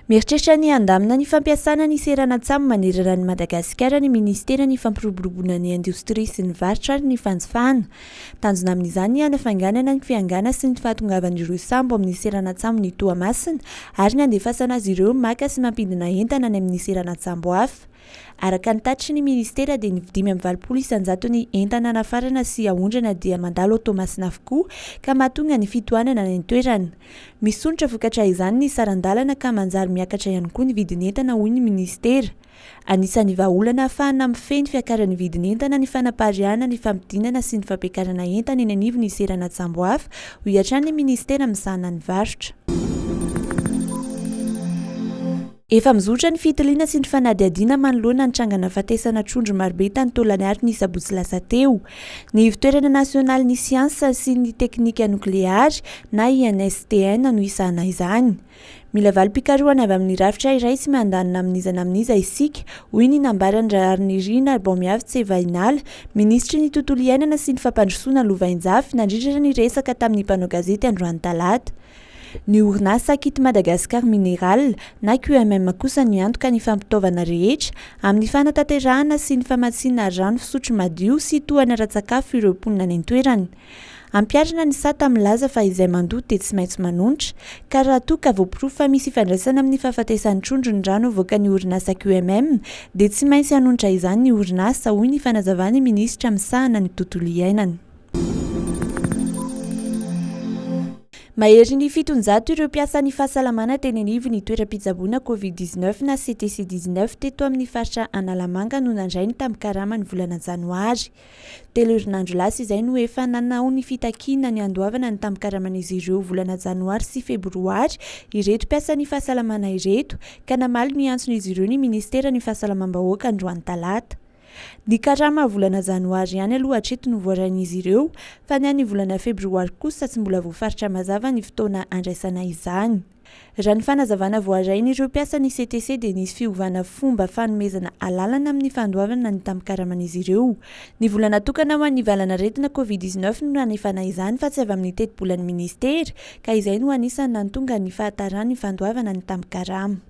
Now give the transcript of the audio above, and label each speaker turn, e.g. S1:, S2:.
S1: Mieritreritra ny handamina ny fampiasana ny seranan-tsambo manerana an'i Madagasikara ny Minisiteran'ny Fampiroboroboana ny Indostria sy ny Varotra ary ny Fanjifana. Tanjona amin'izany ny hanafainganana ny fiangana sy ny fahatongavan'ireo sambo amin'ny seranan-tsambon'i Toamasina ary ny handefasana azy ireo maka sy mampidina entana any amin'ny seranan-tsambo hafa. Araka ny tatitry ny minisitera dia ny dimy amby valopolo isanjato ny entana nafarana sy aondrana dia mandalo ao Toamasina avokoa ka mahatonga ny fitohanana any an-toerana. Misondrotra vokatra izany ny saran-dalana ka manjary miakatra ihany koa ny vidin'entana hoy ny minisitera. Anisan'ny vahaolana hahafahana mifehy ny fiakaran'ny vidin'entana ny fanapariahana ny fampidinana sy ny fampiakarana entana eny anivon'ny seranan-tsambo hafa hoy hatrany ny minisitera misahana ny varotra. Efa mizotra ny fitiliana sy ny fanadihadiana manoloana ny tranga nahafatesana trondro marobe tany Tolagnaro ny sabotsy lasa teo. Ny Ivon-toerana nasionalin'ny siansa sy ny teknika nokleary na INSTN no hisahana izany. Mila valim-pikarohana avy amin'ny rafitra iray tsy miandany na amin'iza na amin'iza isika, hoy ny nambaran'i Raharinirina Rabaomiavy Tsevahinala, minisitry ny Tontolo iainana sy ny fampandrosoana lovainjafy nandritra ny resaka tamin'ny mpanao gazety androany talata. Ny orinasa Kit Madagascar Mineral na QMM kosa miantoka ny fampitaovana rehetra amin'ny fanatanterahana sy ny famatsiana rano fisotro madio sy tohana ara-tsakafo ireo mponina any an-toerana. Ampiharina ny sata milaza fa izay mandoa dia tsy maintsy manonitra ka raha toa ka voaporofo fa misy ifandraisana amin'ny fahafatesan'ny trondro ny rano avoakan'ny orinasa QMM dia tsy maintsy hanonitra izany ny orinasa, hoy ny fanazavan'ny minisitra misahana ny tontolo iainana. Mahery ny fitonjato ireo mpiasan'ny fahasalamana teny anivon'ny toeram-pitsaboana Covid dix neuf na CTC dix neuf teto amin'ny faritra Analamanga no nandray ny tambin-karama ny volana janoary. Telo herinandro lasa izay no efa nanao ny fitakiana ny handoavana ny tambin-karaman'izy ireo volana janoary sy febroary ireto mpiasan'ny fahasalamana ireto ka namaly ny antson'izy ireo ny minisiteran'ny fahasalamam-bahoaka androany talata. Ny karama volana janoary ihany aloha hatreto no voarain'izy ireo fa ny an'ny volana febroary kosa tsy mbola voafaritra mazava ny fotoana handraisana izany. Raha ny fanazavana voarain'ireo mpiasan'ny CTC dia nisy fiovana fomba fanomezana alalana amin'ny fandoavana ny tambin-karaman'izy ireo. Ny vola natokana ho an'ny valan'aretina covid dix-neuf no nanefana izany fa tsy avy amin'ny tetibolan'ny minisitera ka izay no anisan'ny nantonga ny fahataran'ny fandoavana ny tambin-karama.